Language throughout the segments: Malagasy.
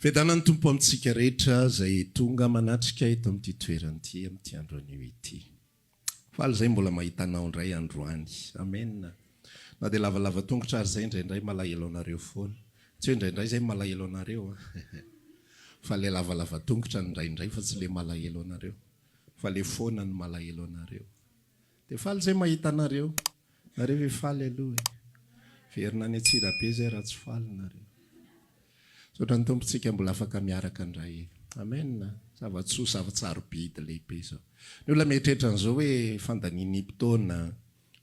Fiadanan'ny Tompo amintsika rehetra izay tonga manatrika eto amin'ity toerana ity amin'ity andro anio ity. Faly izay mbola mahita anao indray androany. Amen. Na dia lavalava tongotra ary izay indraindray malahelo anareo foana. Tsy hoe indraindray izay malahelo anareo an. Fa ilay lavalava tongotra no indraindray fa tsy ilay malahelo anareo. Fa ilay foana no malahelo anareo. Dia faly zay mahita anareo. Nareo ve faly aloha e. Hiverina any Antsirabe zay raha tsy faly nareo. Misaotra ny Tompo tsika mbola afaka miaraka indray e. Amen a. Zava-tsoa, zava-tsarobidy lehibe zao. Ny olona mieritreritra an'izao hoe fandanian'impotoana,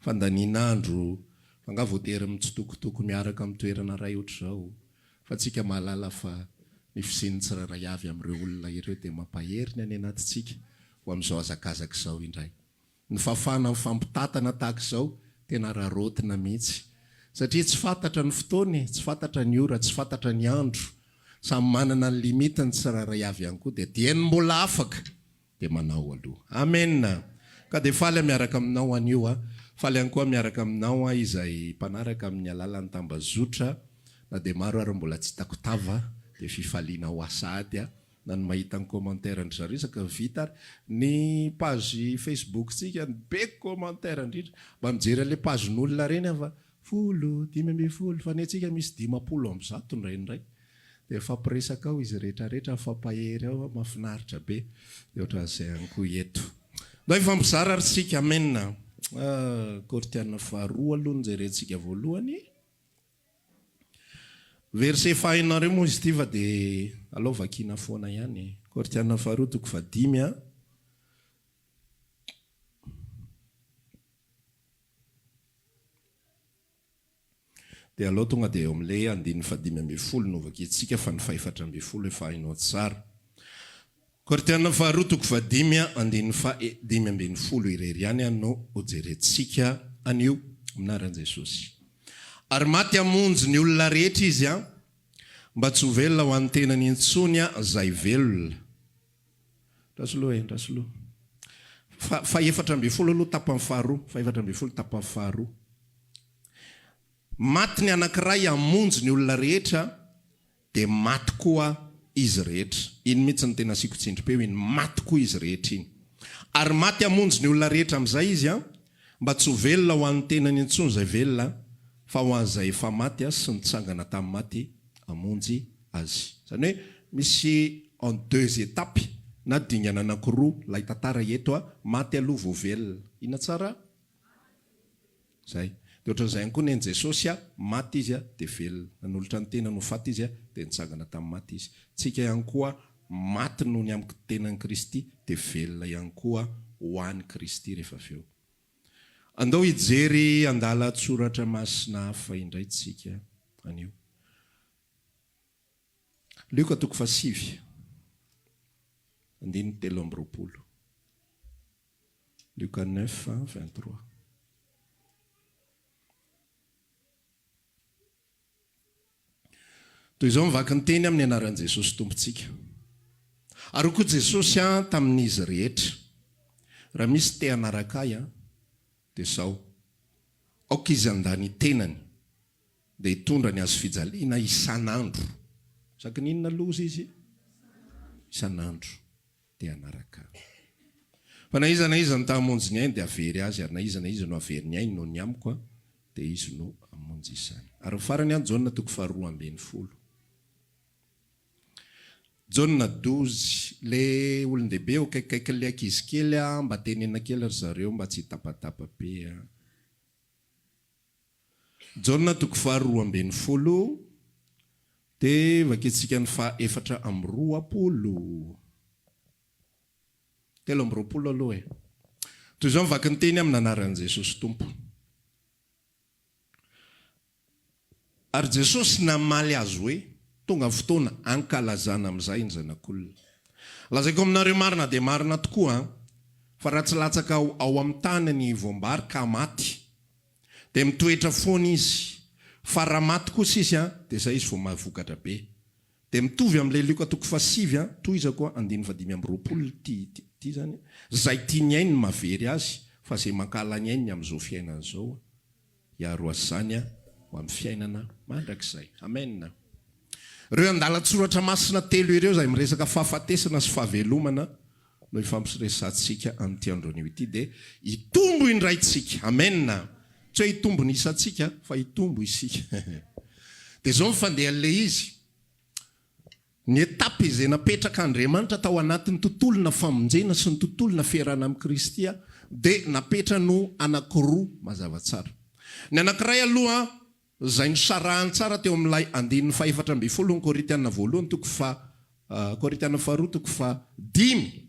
fandanian'andro, fa nga voatery mitsitokotoko miaraka amin'ny toerana iray ohatr'izao. Fa tsika mahalala fa ny fisian'ny tsirairay avy amin'ireo olona ireo dia mampahery ny any anatintsika ho amin'izao hazakazaka izao indray. Ny fafana mifampitatana tahaka izao tena raraotina mihitsy satria tsy fantatra ny fotoana e, tsy fantatra ny ora, tsy fantatra ny andro, samy manana ny limite ny tsirairay avy ihany koa dia dieny mbola afaka dia manao aloha. Amen ka dia faly aho miaraka aminao anio a, faly ihany koa miaraka aminao aho izay mpanaraka amin'ny alalan'ny tambazotra na dia maro ary mbola tsy hitako tava dia fifaliana ho asa ady a. na ny mahita ny commentaire an-dry zareo iza ka vita ary ny page facebook tsika be commentaire indrindra mba mijery anle page n'olona reny aho fa folo dimy ambin'ny folo fa ny antsika misy dimampolo amby zato indraindray dia mifampiresaka ao izy rehetra rehetra mifampahery ao mafinaritra be dia ohatran'izay ihany koa eto mba hifampizara ary tsika amen ah! Kortiana faharoa aloha no jerentsika voalohany. Verset fahaeninareo moa izy ity fa dia alao vakiana foana ihany e. Korintiana faharoa toko fahadimy a. Dia alao tonga dia eo amin'ilay andininy fahadimy ambin'ny folo no vakiantsika fa ny fahefatra ambin'ny folo efa hainao tsara. Korintiana faharoa toko fahadimy andininy faha dimy ambin'ny folo irery ihany no hojerentsika anio, Minaran'i Jesosy ary maty hamonjy ny olona rehetra Izy an, mba tsy ho velona ho an'ny tenany intsony an izay velona. Andraso loha e, andraso loha. Fa, fahefatra ambin'ny folo aloha tapany faharoa, fahefatra ambin'ny folo tapany faharoa. Maty ny anankiray hamonjy ny olona rehetra, Dia maty koa izy rehetra. Iny mihitsy no tena asiako tsindrim-peo iny, maty koa izy rehetra iny. Ary maty hamonjy ny olona rehetra amin'izay izy an, mba tsy ho velona ho an'ny tenany intsony izay velona, fa ho an'izay efa maty sy nitsangana tamin'ny maty hamonjy azy. Izany hoe misy en deux étapes na dingana anankiroa ilay tantara eto an, maty aloha vao velona. Inona tsara? Zay. Dia ohatran'izay ihany koa nen'i Jesosy a, maty Izy a, dia velona. Nanolotra ny tenany ho faty Izy a, dia nitsangana tamin'ny maty Izy. Tsika ihany koa, maty noho ny amiko tenan'i Kristy, dia velona ihany koa ho an'i Kristy rehefa avy eo. Andao hijery andalan-tsoratra masina hafa indray tsika anio. Lioka toko fahasivy, andininy telo amby roapolo. Luka neuf, vingt trois. Toy izao ny vaky ny teny amin'ny anaran'i Jesosy Tompontsika. Ary ho koa Jesosy aho tamin'izy rehetra. Raha misy te hanaraka ahy an, dia izao, aoka izy handà ny tenany, dia hitondra ny hazofijaliana isan'andro. Isaky ny inona loza izy? Isan'andro. Dia hanaraka Ahy. Fa na iza na iza no ta-hamonjy ny ainy, dia havery azy, ary na iza na iza no havery ny ainy noho ny Amiko, dia izy no hamonjy izany. Ary ho farany an, Jaona toko faharoa ambin'ny folo. Jaona dozy. Ilay olon-dehibe eo akaikikaikin'ilay ankizy kely an, mba tenena kely ry zareo mba tsy hitapatapa be an. Jaona toko faha roa ambin'ny folo dia vakintsika ny faha efatra amby roapolo, telo amby roapolo aloha e. Toy izao ny vakin'ny teny amin'ny anaran'i Jesosy Tompo. Ary Jesosy namaly azy hoe, Tonga ny fotoana hankalazana amin'izay ny Zanak'olona. Lazaiko aminareo marina dia marina tokoa, fa raha tsy latsaka ao amin'ny tany ny voam-bary ka maty, dia mitoetra foana izy fa raha maty kosa izy an dia izay izy vao mahavokatra be dia mitovy amin'ilay Lioka toko fahasivy an tohizako an andininy fahadimy amby roapolo ity ity izany izay tia ny ainy no mahavery azy fa izay mankahala ny ainy ny amin'izao fiainana izao an hiaro azy izany an ho amin'ny fiainana mandrakizay amen ireo andalan-tsoratra masina telo ireo izay miresaka fahafatesana sy fahavelomana no hifampiresahantsika amin'ity andronio ity dia hitombo indray tsika amen tsy hoe hitombo ny isantsika fa hitombo isika dia zao ny fandehan'ilay izy ny étape izay napetraka Andriamanitra tao anatin'ny tontolona famonjena sy ny tontolona fiarahana amin'i Kristy dia napetrany ho anakiroa mazava tsara ny anakiray aloha izay nosarahany tsara teo amin'ilay andininy fahefatra ambin'ny folo ny Korintiana voalohany toko faha, Korintiana faharoa toko faha dimy,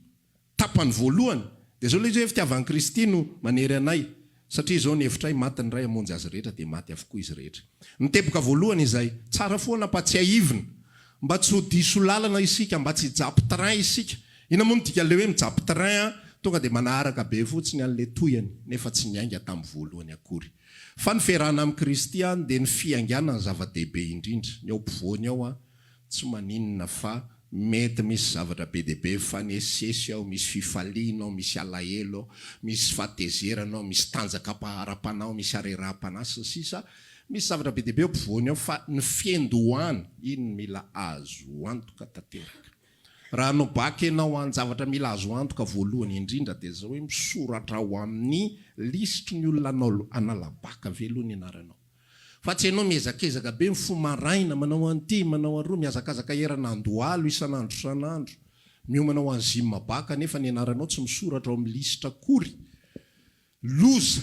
tapany voalohany, dia izao ilay izy hoe, Fitiavan'i Kristy no manery anay, satria izao ny hevitray, maty ny Ray hamonjy azy rehetra, dia maty avokoa izy rehetra. Ny teboka voalohany izay, tsara foana mba tsiahivina, mba tsy ho diso lalana isika, mba tsy hijapy train isika. Inona moa no dikan'ilay hoe mijapy train an, tonga dia manaharaka be fotsiny an'ilay tohiny, nefa tsy niainga tamin'ny voalohany akory. Fa ny fiarahana amin'i Kristy an dia ny fiaingàna ny zava-dehibe indrindra, ny ao ampovoany ao an tsy maninona fa mety misy zavatra be dia be mifanesisesy ao, misy fifaliana ao, misy alahelo ao, misy fahatezerana ao, misy tanjakam-paharam-panahy ao, misy hareraham-panahy sy ny sisa Misy zavatra be dia be ao ampovoany ao fa ny fiandohana iny mila azo antoka tanteraka. Raha no bac enao an zavatra mila azo antoka voalohany indrindra dia zao hoe misoratra ao amin'ny lisitry ny olona hanala bac ve aloha ny anaranao. Fa tsy enao miezakezaka be mifoha maraina manao an'ity manao aroa mihazakazaka erana andohalo isan'andro isan'andro miomana ho an'ny gym bac nefa ny anaranao tsy misoratra ao amin'ny lisitra akory. Loza.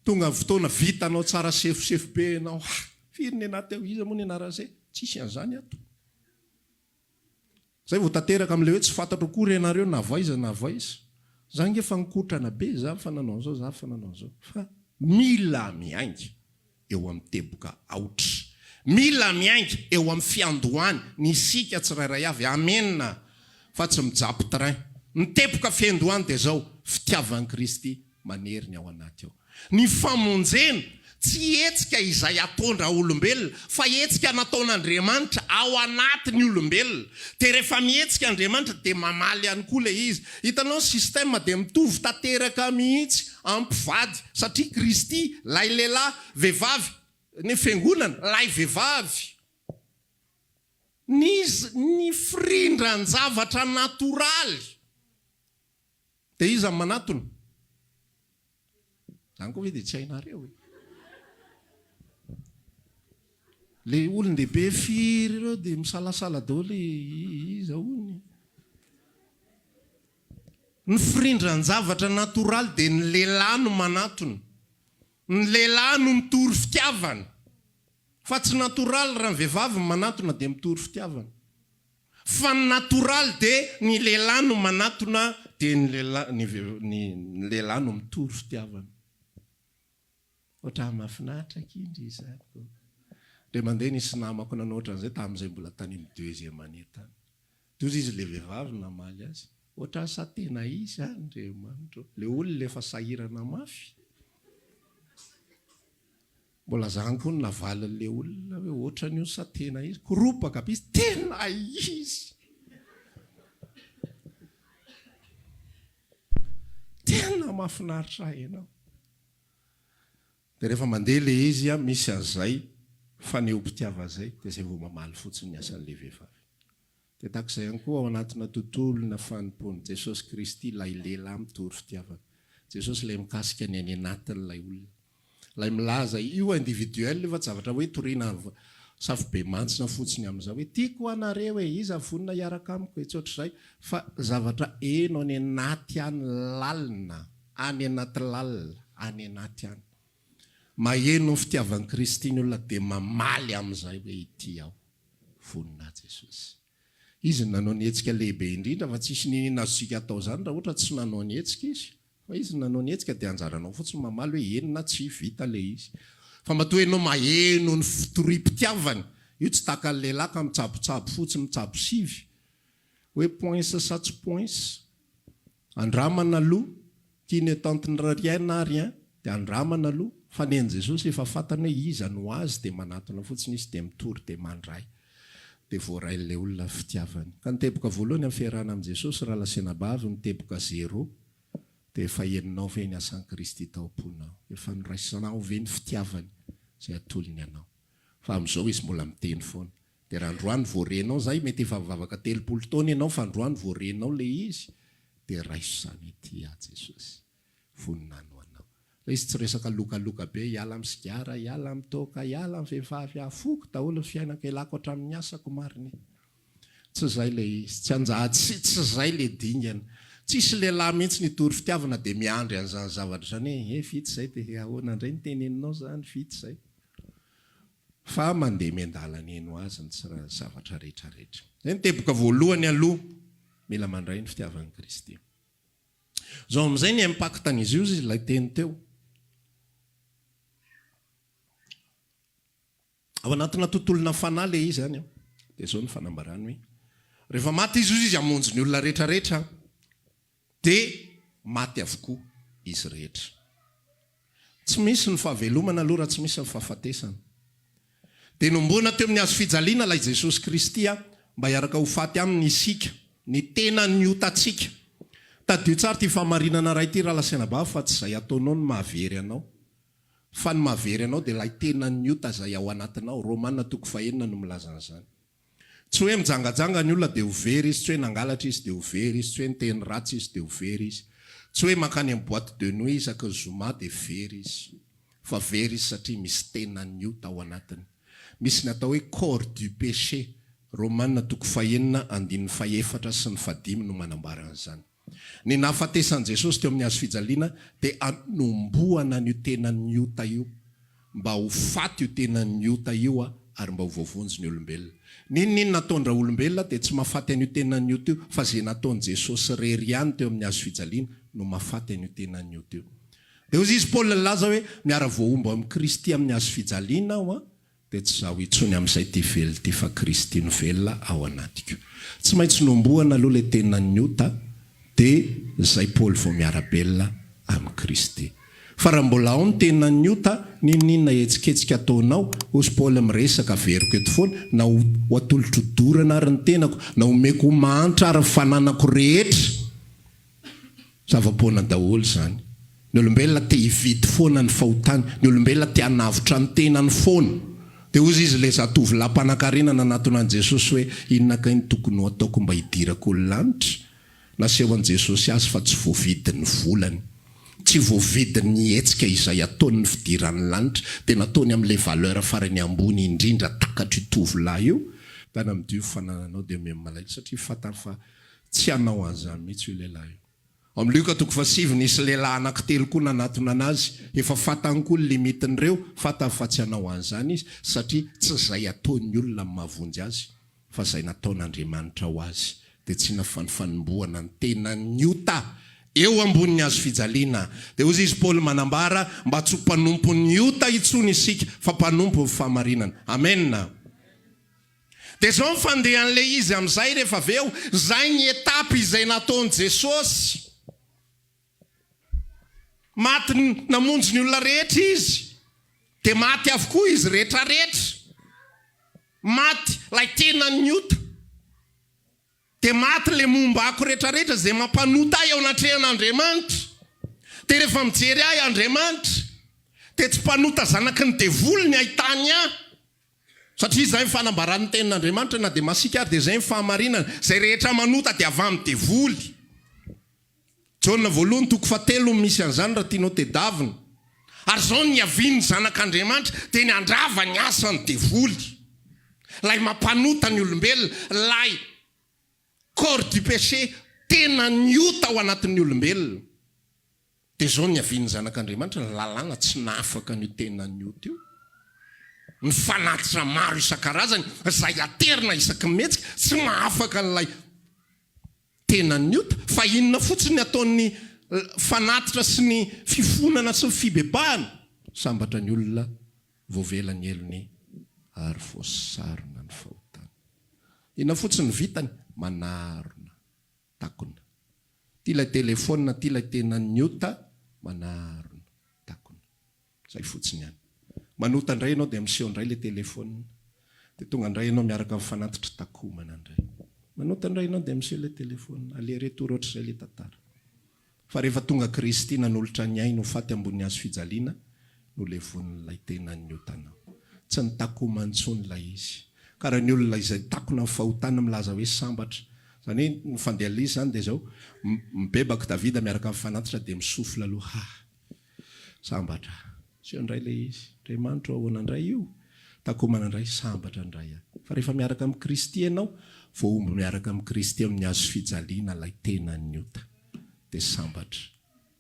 Tonga ny fotoana vitanao tsara sefosefo be enao ha firy ny anah teo iza moa ny anaran'zay tsisy an'zany ato. Zay vao tanteraka amle hoe tsy fantatro akory ianareo na avy aiza na avy aiza. Za nge efa nikotrana be za fa nanao an'zao za fa nanao an'zao fa mila miainga eo am teboka aotra. Mila miainga eo am fiandohany ny isika tsirairay avy amen a fa tsy mijapy train. Ny teboka fiandohany dia zao, fitiavan Kristy. manery ny ao anaty ao. Ny famonjena, tsy hetsika izay ataon-draolombelona, fa hetsika nataon'Andriamanitra ao anatin'ny olombelona. Dia rehefa mihetsika Andriamanitra, dia mamaly ihany koa ilay izy. Hitanao, ny système dia mitovy tanteraka mihitsy amin'ny mpivady, satria Kristy, lay lehilahy, vehivavy, ny Fiangonana, lay vehivavy. Ny, ny firindran-javatra natoraly. Dia iza no manatona? Zany koa ve dia tsy hainareo e? Le olon-dehibe firy ireo dia misalasala daholo e, iza hono e? Ny firindran-javatra natoraly dia ny lehilahy no manatona. Ny lehilahy no mitory fitiavana. Fa tsy natoraly raha ny vehivavy no manatona dia mitory fitiavana. Fa ny natoraly dia ny lehilahy no manatona dia ny lehilahy ny ny ny lehilahy no mitory fitiavana. Ohatran'ny mahafinaritra akia ndry izany ko. Dia mandeha nisy namako nanao ohatran'izay tamin'izay mbola tany amin'ny deuxième année tany. Dia hozy izy ilay vehivavy namaly azy, ohatran'ny sa tena izy any ry Emma ndry ô. Ilay olona efa sahirana mafy. Mbola zany koa no navalin'ilay olona hoe ohatran'ny io sa tena izy? Koropaka be izy, tena izy! Tena mahafinaritra ahy ianao! Dia rehefa mandeha ilay izy an, misy an'izay fanehoam-pitiavana izay, dia izay vao mamaly fotsiny ny asan'ilay vehivavy. Dia tahaka izay ihany koa ao anatina tontolona fanompoan'i Jesosy Kristy ilay lehilahy mitory fitiavana. Jesosy ilay mikasika ny any anatiny ilay olona. Ilay milaza io individuel io fa tsy zavatra hoe toriana safobemantsina fotsiny amin'izao hoe tiako anareo e, iza vonona hiaraka amiko e, tsy ohatr'izay fa zavatra heno any anaty any lalina, any anaty lalina, any anaty any. Maheno ny fitiavan'i Kristy ny olona dia mamaly amin'izay hoe ity aho. Vonona Jesosy. Izy no nanao ny hetsika lehibe indrindra fa tsisy ninin azontsika atao izany raha ohatra tsy nanao ny hetsika Izy. Fa Izy no nanao ny hetsika dia anjaranao fotsiny mamaly hoe eny na tsia, vita ilay izy. Fa matoa ianao maheno ny fitoriam-pitiavany, io tsy tahaka ny lehilahy ka mitsabotsabo fotsiny, mitsabo sivy, hoe poinsa sa tsy poinsa. Andramana aloha, ity ne tante nirariaina ary an, dia andramana aloha, fa ny an'i Jesosy efa fantany hoe iza no Azy dia manatona fotsiny Izy dia mitory dia mandray. Dia voarain'ilay olona ny fitiavany. Ka ny teboka voalohany amin'ny fiarahana amin'i Jesosy raha lasenabavy ny teboka zero dia efa henonao ve ny asan'i Kristy tao am-ponao? Efa noraisinao ve ny fitiavany izay atolony anao? Fa amin'izao izy mbola miteny foana. De raha androany vao renao zay mety efa nivavaka telopolo taona ianao fa androany vao renao le izy de raiso zany ity aho Jesosy voninahiny ho anao le izy tsy resaka lokaloka be hiala am sigara hiala am toaka hiala am vehivavy aho foko daholo ny fiainako elako atram ny asako marigny tsy zay le izy tsy anjaha tsy tsy zay le dingana tsisy lehilahy mihitsy nitory fitiavana de miandry anzany zavatra zany hoe he vita zay de ahoana ndray ny teneninao zany vita zay fa mandeha miandalana eny ho azy ny tsy ra zavatra rehetra rehetra. Izay no teboka voalohany aloha mila mandray ny fitiavan'i Kristy. Zao amin'izay ny impactan'izy io izy ilay teny teo. Ao anatina tontolona fanahy le izy any. Dia zao ny fanambarany hoe rehefa maty izy izy hamonjy ny olona rehetra rehetra. Dia maty avokoa izy rehetra. Tsy misy ny fahavelomana aloha raha tsy misy ny fahafatesana. Dia nomboana teo amin'ny hazo fijaliana ilay Jesosy Kristy mba hiaraka ho faty Aminy isika, ny tenan'ny otantsika. Tadidio tsara ity fahamarinana iray ity Ralasenabavy fa tsy izay ataonao no mahavery anao, fa ny mahavery anao dia ilay tenan'ny ota izay ao anatinao, Romana toko fahenina no milaza an'izany. Tsy hoe mijangajanga ny olona dia ho very izy, tsy hoe nangalatra izy dia ho very izy, tsy hoe niteny ratsy izy dia ho very izy, tsy hoe mankany amin'ny boîte de nuit isaky ny zoma dia very izy. Fa very izy satria misy tenan'io tao anatiny. Misy ny atao hoe corps du péché, Romana toko fahenina andininy fahefatra sy ny fahadimy no manambara an'izany. Ny nahafatesan'i Jesosy teo amin'ny hazo fijaliana dia hanombohana an'io tenan'ny ota io, mba ho faty io tenan'ny ota io ary mba ho voavonjy ny olombelona. N'inon'inona ataon-draolombelona dia tsy mahafaty an'io tenan'ny ota io, fa izay nataon'i Jesosy irery ihany teo amin'ny hazo fijaliana no mahafaty an'io tenan'ny ota io. Dia hozy izy Paoly nilaza hoe, Miara-voahombo amin'i Kristy amin'ny hazo fijaliana aho, dia tsy izaho intsony amin'izay ity velona ity fa Kristy no velona ao anatiko. Tsy maintsy nohomboana aloha ilay tenan'ny ota dia izay Paoly vao miara-belona amin'i Kristy. Fa raha mbola ao ny tenan'ny ota, n'inon'inona hetsiketsika ataonao, hozy Paoly miresaka, averiko eto foana, na ho atolotro dorana ary ny tenako, na homeko ho mahantra ary ny fananako rehetra, Zava-poana daholo izany. Ny olombelona te hividy foana ny fahotany, ny olombelona te hanavotra ny tenany foana. Dia hoy izy ilay zatovolahy mpanankarena nanatona an'i Jesosy hoe, Inona kay no tokony hataoko mba hidirako ny lanitra? Nasehon'i Jesosy azy fa tsy voavidy ny volany. Tsy voavidy ny hetsika izay ataony ny fidirany ny lanitra, dia nataony amin'ilay valeur farany ambony indrindra takatr'io tovolahy io, Tany amin'ity io fanananao dia miha malaelo, satria fantany fa Tsy hanao an'izany mihitsy io lehilahy io. Ao amin'ny Lioka toko fahasivy, nisy lehilahy anankitelo koa nanatona an'azy. Efa fantany koa ny limitin'ireo, fantany fa tsy hanao an'izany izy, satria tsy izay ataon'ny olona no mahavonjy azy, fa izay nataon'Andriamanitra ho azy. Dia tsy nafan'ny fanombohana ny tenan'ny ota eo ambonin'ny hazo fijaliana. Dia hoy izy Paoly manambara, Mba tsy ho mpanompon'ny ota intsony isika, fa mpanompon'ny fahamarinana. Amena. Dia izao ny fandehan'ilay izy amin'izay rehefa avy eo, izay ny étape izay nataon'i Jesosy. Maty namonjy ny olona rehetra Izy, dia maty avokoa izy rehetrarehetra. Maty ilay tenan'ny ota. Dia maty le mombako rehetra rehetra izay mampanota ahy eo anatrehan Andriamanitra. Dia rehefa mijery ahy Andriamanitra dia tsy mpanota zanaky ny devoly ny ahitany ahy. Satria izay ny fanambaran ny tenin Andriamanitra na dia masiaka ary dia izay ny fahamarinana, izay rehetra manota dia avy amin ny devoly. Jaona voalohany toko fahatelo no misy an'izany raha tianao tedavina. Ary izao no niavian'ny zanak'Andriamanitra dia ny handrava ny asan'ny devoly, ilay mampanota ny olombelona, ilay corps du péché, tenan'ny ota ao anatin'ny olombelona. Dia izao no niavian'ny zanak'Andriamanitra, ny lalàna tsy nahafaka an'io tenan'ny ota io, ny fanatitra maro isan-karazany izay aterina isaky ny mihetsika, tsy mahafaka an'ilay tenan'ny ota, fa inona fotsiny ny ataon'ny fanatitra sy ny fifonana sy ny fibebahana? Sambatra ny olona voavela ny helony ary voasarona ny fahotany. Inona fotsiny ny vitany? Manarona takona. Ity ilay telefaonina ity ilay tenan'ny ota, manarona takona. Zay fotsiny ihany. Manota indray ianao dia miseho indray ilay telephone dia tonga indray ianao miaraka amin'ny fanatitry takomana indray. Manota indray ianao dia miseho ilay telephone. Aller retour ohatr'izay ilay tantara. Fa rehefa tonga Kristy nanolotra ny ainy ho faty ambony hazo fijaliana no levonin'ilay tenany ny otanao. Tsy nitakoma intsony ilay izy. Kara ny olona izay takona amin'ny fahotany milaza hoe sambatra. Izany hoe ny fandehan'ilay izy izany dia izao, mibebaka Davida miaraka amin'ny fanatitra dia mi-souffle aloha, hah. Sambatra. Asio indray ilay izy. Andriamanitra o ahoana indray io? Takomana indray, sambatra indray aho. Fa rehefa miaraka amin'i Kristy ianao, voahombo miaraka amin'i Kristy amin'ny hazo fijaliana ilay tenan'ny ota. Dia sambatra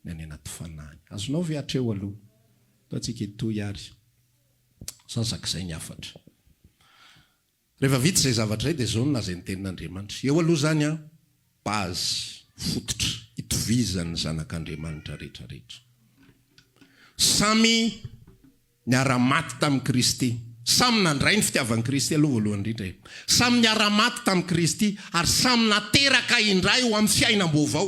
ny any anaty Fanahiny. Azonao ve hatreo aloha? Ataontsika hitohy ary sasak'izay ny hafatra. Rehefa vita izay zavatra izay dia izao no lazain'ny tenin'Andriamanitra, Eo aloha izany an, base, fototra, itovizan'ny zanak'Andriamanitra rehetra rehetra. Samy niara-maty tamin'i Kristy, samy nandray ny fitiavan'i Kristy aloha voalohany indrindra e. Samy niara-maty tamin'i Kristy ary samy nateraka indray ho amin'ny fiainam-baovao.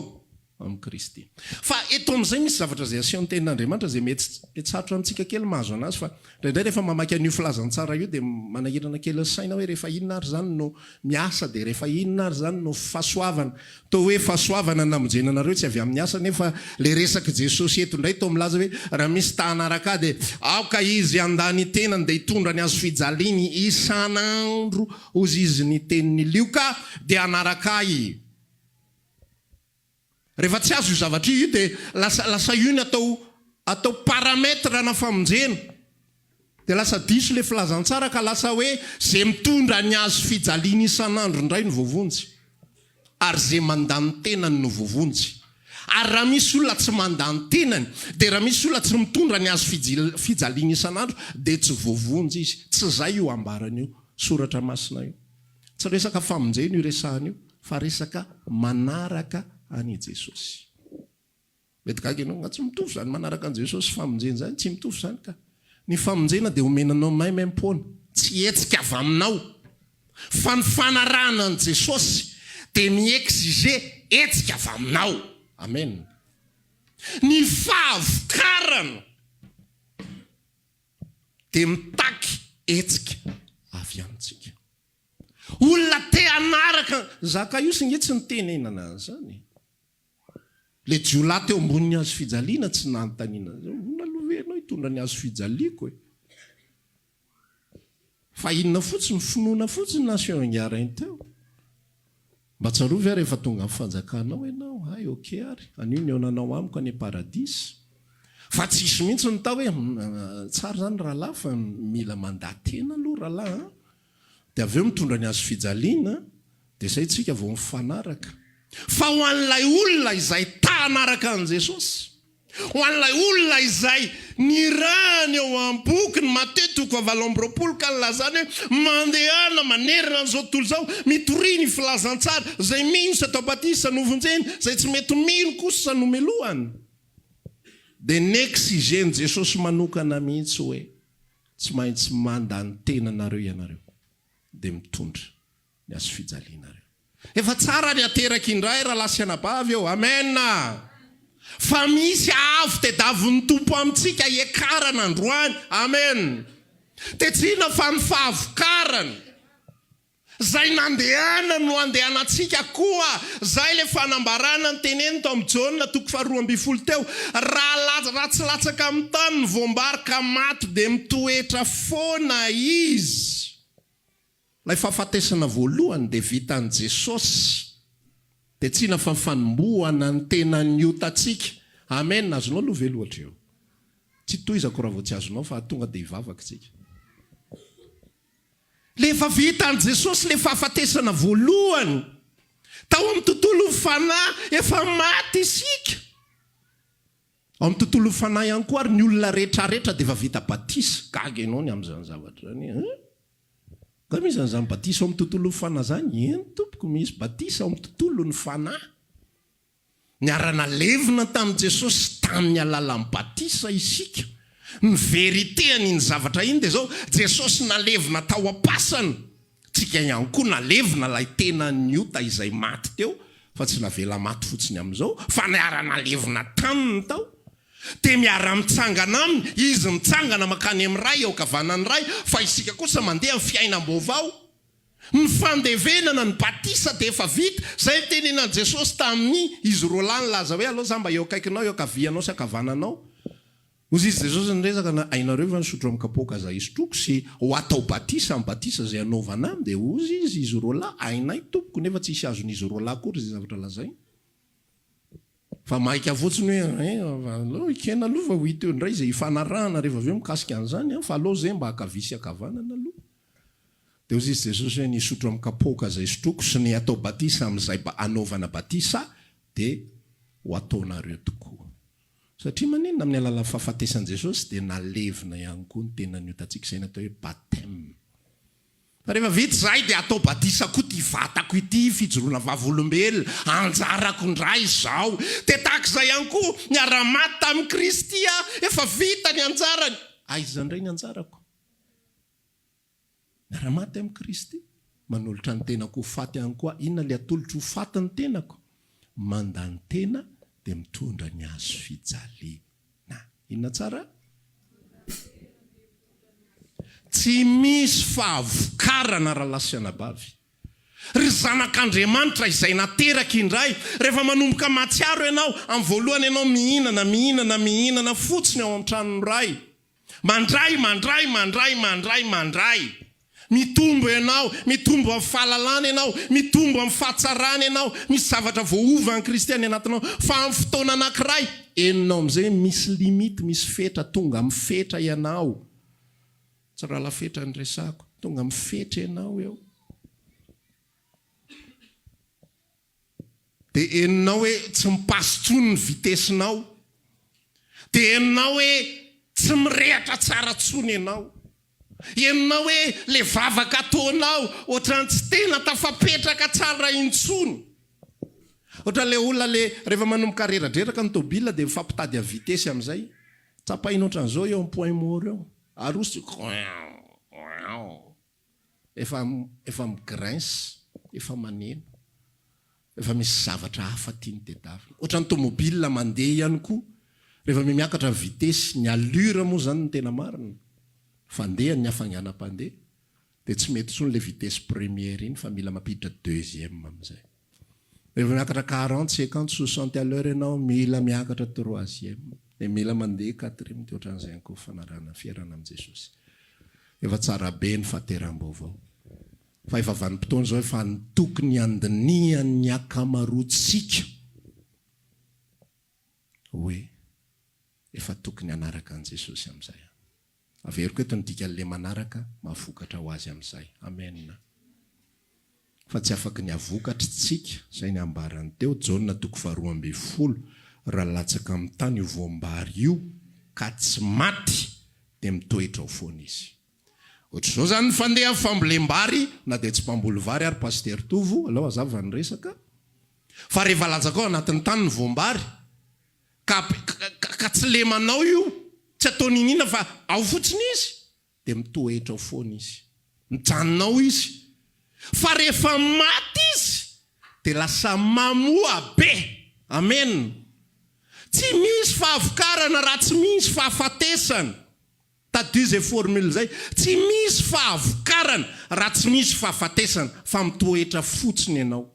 amin'i Kristy. Fa eto amin'izay misy zavatra izay asehon'ny Tenin'Andriamanitra izay mety tsy mety sarotra amintsika kely ny mahazo an'azy fa indraindray rehefa mamaky an'io filazantsara io dia manahirana kely ny saina hoe rehefa inona ary izany no miasa dia rehefa inona ary izany no fahasoavana toa hoe fahasoavana ny namonjena anareo tsy avy amin'ny asa nefa ilay resak'i Jesosy eto indray toa milaza hoe raha misy ta hanaraka ahy dia aoka izy handà ny tenany dia hitondra ny hazofijaliany isan'andro hozy izy ny tenin'i Lioka dia hanaraka ahy Rehefa tsy azo io zavatra io dia lasa lasa io ny atao atao paramètre ana famonjena. Dia lasa diso ilay filazantsara ka lasa hoe izay mitondra ny hazo fijaliana isan'andro indray no voavonjy. Ary izay mandà ny tenany no voavonjy. Ary raha misy olona tsy mandà ny tenany, dia raha misy olona tsy mitondra ny hazo fijaliana isan'andro dia tsy voavonjy izy. Tsy izay io ambarany io soratra masina io. Tsy resaka famonjena io resahana io fa resaka manaraka an' i Jesosy. Mety gaga ianao, nga tsy mitovy izany manaraka an'i Jesosy sy famonjena izany? Tsy mitovy izany ka! Ny famonjena dia omena anao maimaim-poana, tsy hetsika avy aminao. Fa ny fanarahana an'i Jesosy dia mi-exiger hetsika avy aminao. Amen! Ny fahavokarana. dia mitaky hetsika avy amintsika. Olona te hanaraka an'i Zakaiosy ange tsy nitenenana an'izany e! Ilay jiolahy teo ambonin'ny hazo fijaliana tsy nanontaniana an'izany, Ahoana aloha ve ianao hitondra ny hazo fijaliako e? Fa inona fotsiny? Finoana fotsiny na asio engarainy teo? Mba tsarovy aho rehefa tonga amin'ny fanjakana ao ianao. Hay ok ary, anio ny eonanao amiko any am-paradisa. Fa tsy hisy mihitsy ny tao hoe, Humm, tsara izany rahalahy fa mila mandà tena aloha rahalahy an! Dia avy eo mitondra ny hazo fijaliana dia izay tsika vao mifanaraka. Fa ho an'ilay olona izay ta hanaraka an'i Jesosy. Ho an'ilay olona izay nirahany eo am-boky ny Matie toko fahavalo amby roapolo ka nilazany hoe, Mandehana manerana an'izao tontolo izao, mitoria ny filazantsara, izay mino sy atao batisa no vonjena, izay tsy mety mino kosa no melohany. Dia neksizen'i Jesosy manokana mihitsy hoe, Tsy maintsy manda ny tenanareo ianareo, dia mitondra. ny hazofijalianareo. Efa tsara ny ateraka indray rahalahy sy anabavy ô! Amen! Fa misy avo tedavon'ny Tompo amintsika hiakarana androany. Amen! Tetsina fa ny fahavokarany, izay nandehanany no andehanantsika koa. Izay ilay fanambarana noteneniny tao amin'ny Jaona toko faharoa ambin'ny folo teo, Raha ratsilatsaka amin'ny tany ny voam-bary ka maty dia mitoetra foana izy. Ilay fahafatesana voalohany dia vitan'i Jesosy, dia tsina fa fanombohana ny tenan'ny otantsika. Amen! Azonao aloha ve lohatra eo? Tsy tohizako raha vao tsy azonao fa tonga dia hivavaka isika. Ilay efa vitan'i Jesosy ilay fahafatesana voalohany, tao amin'ny tontolon'ny fanahy efa maty isika. Ao amin'ny tontolon'ny fanahy ihany koa ary ny olona rehetra rehetra dia efa vita batisa. Gaga ianao ny amin'izany zavatra izany e! Koa misy an'izany batisa ao amin'ny tontolon'ny fanahy izany? Eny tompoko, misy batisa ao amin'ny tontolon'ny fanahy. Niara-nalevina tamin'i Jesosy tamin'ny alalan'ny batisa isika. Ny vérité an'iny zavatra iny dia izao, Jesosy nalevina tao am-pasana, tsika ihany koa nalevina ilay tenan'ny ota izay maty teo, fa tsy navela maty fotsiny amin'izao, fa niara-nalevina taminy tao. Dia miara-mitsangana aminy, izy mitsangana mankany amin'ny Ray, eo ankavanan'ny Ray, fa isika kosa mandeha amin'ny fiainam-baovao. Ny fandevenana, ny batisa dia efa vita. Izay nitenenan'i Jesosy tamin'ny izy roa lahy nilaza hoe, Aleo izaho mba eo akaikinao, eo ankavianao sy ankavananao. Hoy izy Jesosy niresaka, Na hainareo ve ny sotro amin'ny kapoaka izay isotroako sy ho atao batisa amin'ny batisa izay hanaovana ahy? Dia hoy izy roa lahy, Hainay, Tompoko, nefa tsy hisy azon'izy roa lahy akory izay zavatra lazainy. Fa maika fotsiny hoe an eh, aleo ekena aloha fa ho hita eo indray izay hifanarahana rehefa avy eo mikasika an'izany an, fa aleo izay mba ankavia sy ankavanana aloha. Dia hozy izy Jesosy hoe, ny hisotro amin'ny kapoaka izay sotroiko sy ny hatao batisa amin'izay hanaovana batisa dia ho ataonareo tokoa. Satria maninona? Amin'ny alalan'ny fahafatesan'i Jesosy dia nalevina ihany koa ny tenan'ny otantsika izay natao hoe bapteme. Rehefa vita izay dia atao batisa koa ity vatako ity, fijoroana vavolombelona, anjarako indray izao. Dia tahaka izay ihany koa, niara-maty tamin'i Kristy aho, efa vita ny anjarany. Aiza indray ny anjarako? Miara-maty amin'i Kristy, manolotra ny tenako ho faty ihany koa. Inona ilay atolotro ho faty ny tenako? Mandany tena dia mitondra ny hazofijaliana. Na, inona tsara? Tsy misy fahavokarana rahalahy sy anabavy. Ry zanak'Andriamanitra izay nateraka indray, rehefa manomboka mahatsiaro ianao, amin'ny voalohany ianao mihinana, mihinana, mihinana fotsiny ao an-tranon'ny Ray. Mandray, mandray, mandray, mandray, mandray. Mitombo ianao, mitombo amin'ny fahalalana ianao, mitombo amin'ny fahatsarana ianao, misy zavatra voaova an'i Kristy any anatinao. Fa amin'ny fotoana anankiray, henonao amin'izay hoe misy limite, misy fetra, tonga amin'ny fetra ianao. Tsy rahala fetra no resahako, tonga amin'ny fetra ianao eo. Dia henonao hoe tsy mi-passe intsony ny vitesse-nao. Dia henonao hoe tsy mirehatra tsara intsony ianao. Henonao hoe ilay vavaka ataonao ohatran'ny tsy tena tafapetraka tsara intsony. Ohatran'ilay olona ilay rehefa manomboka reradreraka ny tôbila dia mifampitady a vitesse amin'izay. Tsapahina ohatran'izao eo amin'ny point mort eo. Arosony. Oing! Oing! Efa efa mi-grince, efa maneno. Efa misy zavatra hafa tiany tedavina. Ohatran'ny tomobile mandeha ihany koa, rehefa mihamiakatra ny vitesy, ny allure moa izany no tena marina, fandehan'ny hafainganam-pandeha, dia tsy mety intsony ilay vitesse première iny fa mila mampiditra deuxième amin'izay. Rehefa miakatra quarante cinquante soixante à l'heure ianao mila miakatra troisième dia mila mandeha quatrième dia ohatran'izay ihany koa fanarahana fiherana amin'i Jesosy. Efa tsara be ny fahateram-baovao. Fa efa vanim-potoana izao efa ny tokony handinihan'ny ankamaroantsika hoe efa tokony hanaraka an'i Jesosy amin'izay aho. Averiko eto ny dikan'le manaraka, mahavokatra ho azy amin'izay. Amen. Fa tsy afaky ny havokatry tsika, izay ny ambarany teo, Jaona toko faharoa ambin'ny folo, Raha latsaka amin'ny tany io voam-bary io, ka tsy maty, dia mitoetra ao foana izy. Ohatr'izao izany ny fandeha fambolem-bary, na dia tsy mpamboly vary ary Pasitera Tovo, aleo hazava ny resaka, fa rehefa latsaka ao anatin'ny tany ny voam-bary, ka ka tsy lemanao io, tsy atao niniana fa ao fotsiny izy dia mitoetra ao foana izy, mijanona ao izy, fa rehefa maty izy dia lasa mamoa be, amen, tsy misy fahavokarana raha tsy misy fahafatesana. Tadidio izay formule izay. Tsy misy fahavokarana raha tsy misy fahafatesana fa mitoetra fotsiny ianao.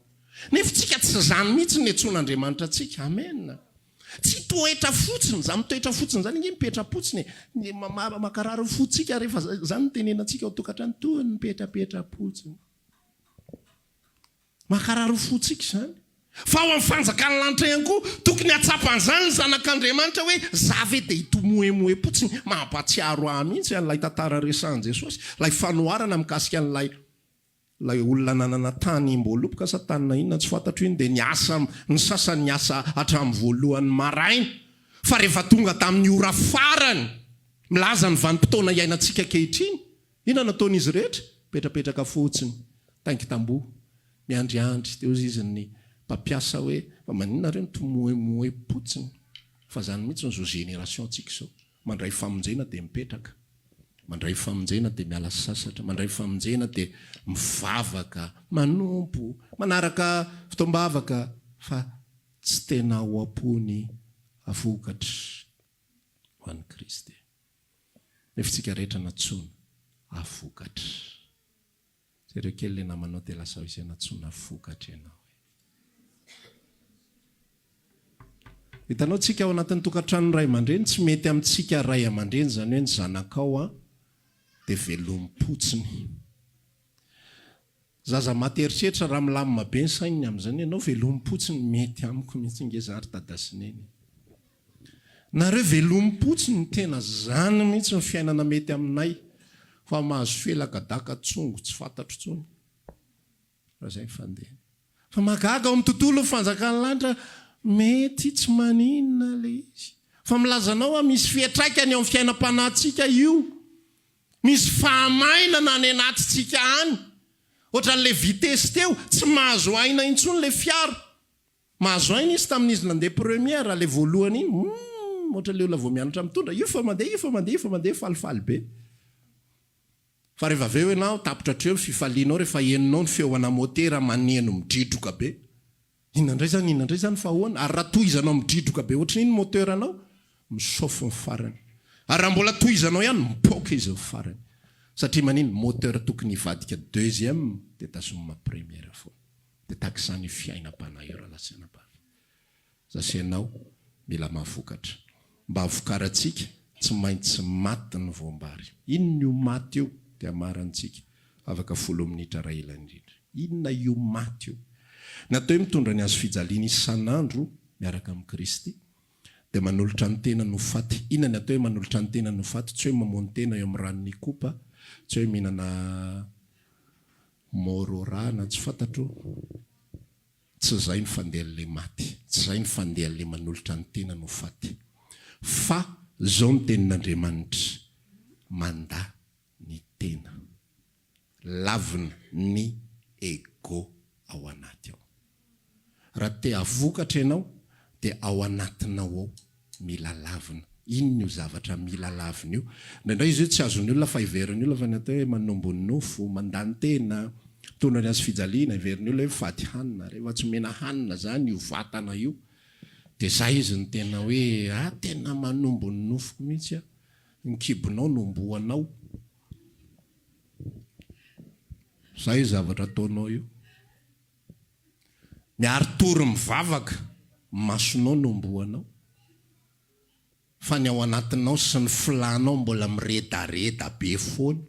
Nefa isika tsy izany mihitsy no niantsoan'Andriamanitra antsika. Amen. Tsy hitoetra fotsiny. Izany mitoetra fotsiny izany ange mipetra-potsiny e. Ny mankarary ny fontsika rehefa izany no tenenantsika ao an-tokantrano, toa ny mipetrapetra-potsiny. Mankarary ny fontsika izany. Fa ao amin'ny fanjakan'ny lanitra ihany koa, tokony hahatsapa an'izany ny zanak'Andriamanitra hoe za ve dia hitomoemoe potsiny. Mampahatsiaro ahy mihitsy an'ilay tantara resahin'i Jesosy, ilay fanoharana mikasika an'ilay ilay olona nanana tany mboaloboka sa tany na inona tsy fantatro iny dia niasa, ny sasany niasa hatramin'ny voalohan'ny maraina fa rehefa tonga tamin'ny ora farany milaza ny vanim-potoana iainantsika ankehitriny, Inona no ataon'izy rehetra? Mipetrapetraka fotsiny, taingi-tamboho, miandriandry. Dia hozy izy ny mpampiasa hoe, fa maninona nareo mitomoemoem-potsiny? Fa izany mihitsy izao génération-tsika izao. Mandray famonjena dia mipetraka, mandray famonjena dia miala sasatra, mandray famonjena dia mivavaka, manompo, manaraka fotoam-bavaka, fa tsy tena ao am-pony vokatra ho an'i Kristy. Refintsika rehetra nantsoina ha vokatra. Jereo kely le namanao de lazao izay nantsoina ha vokatra ianao e. Hitanao tsika ao anatin'ny tokantranon'ny ray aman-dreny tsy mety amintsika ray aman-dreny zany hoe ny zanakao a de velomim-potsiny. Zaza maty herisetra raha milamina be ny saininy amin'izany ianao velomimpotsiny mety amiko mihitsy nge za ry dada sy neny e! Nareo velomimpotsiny tena zany mihitsy ny fiainana mety aminay fa mahazo felaka daka tsongo tsy fantatro tsony raha zay ny fandehany fa mahagaga ao amin'ny tontolon'ny fanjakan'ny lanitra mety tsy maninona le izy fa milaza anao aho misy fiatraikany eo amin'ny fiainam-panahintsika io Misy fahamainana any anatintsika any. Ohatran'ilay vitesse teo, tsy mahazo aina intsony ilay fiara. Mahazo aina izy tamin'izy nandeha première, ilay voalohany iny, humm, ohatran'ilay olona vao mianatra mitondra, io fa mandeha, io fa mandeha, io fa mandeha, falifaly be. Fa rehefa avy eo ianao, tapitra hatreo ny fifalianao rehefa henonao ny feoana motera maneno midridroka be. Inona indray zany, inona indray zany fa ahoana? Ary raha tohizanao midridroka be ohatran'iny ny moteur-nao, mi-chauffe ny farany. Ary raha mbola tohizanao ihany, mipoaka izy ny farany. Satria maninn, ny moteur tokony hivadika deuxième dia tazomina première foana. Dia tahaka izany io fiainam-panahy io raha lasanabavy. Zase ianao mila mahavokatra. Mba vokarantsika, tsy maintsy maty ny voam-bary. Inn io maty io? Dia hamarantsika, afaka folo minitra raha ela indrindra. Inona io maty io? Natao hoe mitondra ny hazo fijaliana isan'andro miaraka amin'i Kristy, dia manolotra ny tenany ho faty. Inona ny atao hoe manolotra ny tenany ho faty? Tsy hoe mamono tena eo amin'ny ranon'i Ikopa, tsy hoe mihinana môrô ra na tsy fantatro. Tsy zay ny fandehan le maty, tsy zay ny fandehan le manolotra ny tenany ho faty, fa zao ny tenin Andriamanitra, Mandà ny tena, lavina ny ego ao anaty ao. Raha te hahvokatra ianao dia ao anatinao ao Mila lavina. Inona io zavatra mila lavina io? Indraindray izy io tsy azon'ny olona fa heverin'ny olona fa ny atao hoe manombo ny nofo, mandany tena, mitondra ny hazofijaliana, heverin'ny olona hoe mifady hanina. Rehefa tsy omena hanina izany io vatana io dia izay izy no tena hoe a! tena manombo ny nofoko mihitsy aho. Ny kibonao no omboanao. Izay io zavatra ataonao io. Miary tory mivavaka, masonao no omboanao, fa ny ao anatinao sy ny filànao mbola miredareda be foana.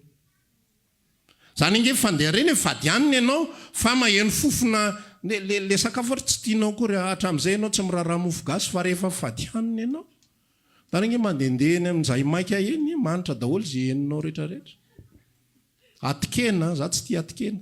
Izany ange fandeha ireny e, fadianina ianao fa maheno fofona le sakafo ary tsy tianao akory, hatramin'izay ianao tsy miraharaha mofo gasy fa rehefa fadianina ianao, izany ange mandehandeha eny amin'ny jaimaika eny, manitra daholo izay henonao rehetrarehetra. Atikena, za tsy tia atikena.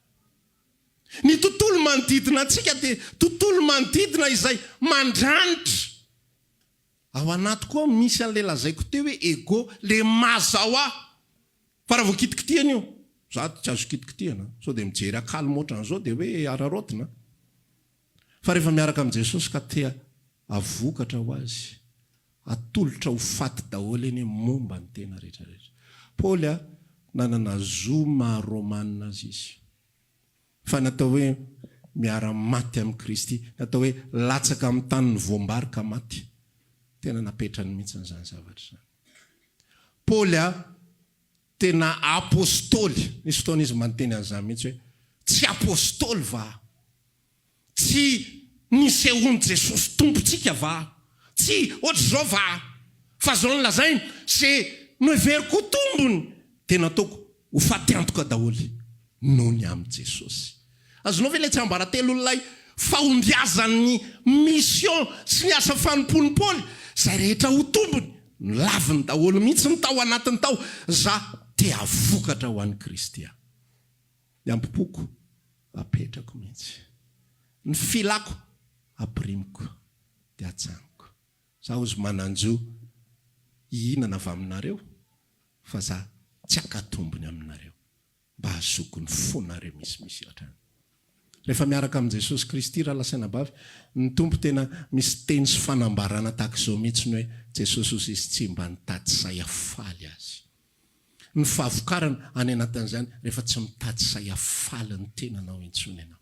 Ny tontolo manodidina antsika dia tontolo manodidina izay mandranitra. Ao anaty koa misy an'ilay lazaiko teo hoe ego, le maza hoa. Fa raha vao kitikitihana io, za tsy azo kitikitihana, sao dia mijery akalo moatran'izao dia hoe araraotina. Fa rehefa miaraka amin'i Jesosy ka te havokatra ho Azy, atolotra ho faty daholo anie momba ny tena rehetra rehetra. Paoly a, nanana zo maha Romana azy izy. Fa natao hoe miara maty amin'i Kristy, natao hoe latsaka amin'ny tany ny voam-bary ka maty. Tena napetrany mihitsy izany zavatra izany. Paoly a. Tena Apostoly. Nisy fotoana izy mba niteny an'izany mihitsy hoe, Tsy Apostoly va aho? Tsy nisehoan'i Jesosy Tompontsika va aho? Tsy ohatr'izao va aho? Fa izao no lazainy, Izay noheveriko ho tombony, dia nataoko ho fatiantoka daholo noho ny amin'i Jesosy. Azonao ve ilay tsiambaratelon'ilay fahombiazan'ny mission sy ny asa fanompoan'i Paoly? Izay rehetra ho tombony, nolaviny daholo mihitsy ny tao anatiny tao. Za te havokatra ho an'i Kristy aho. Ny ambompoko apetrako mihitsy. Ny filako apirimiko dia atsaniko. Za ozy manan-jo hihinana avy aminareo fa za tsy haka tombony aminareo. mba hahazoako ny fo nareo misimisy hatrany. Rehefa miaraka amin'i Jesosy Kristy raha lasaina bavy, ny Tompo tena misy teny sy fanambarana tahaka izao mihitsy ny hoe Jesosy hozy izy tsy mba nitady sahy hafaly azy. Ny fahavokarana any anatin'izany rehefa tsy mitady sahy hafaly ny tenanao intsony ianao.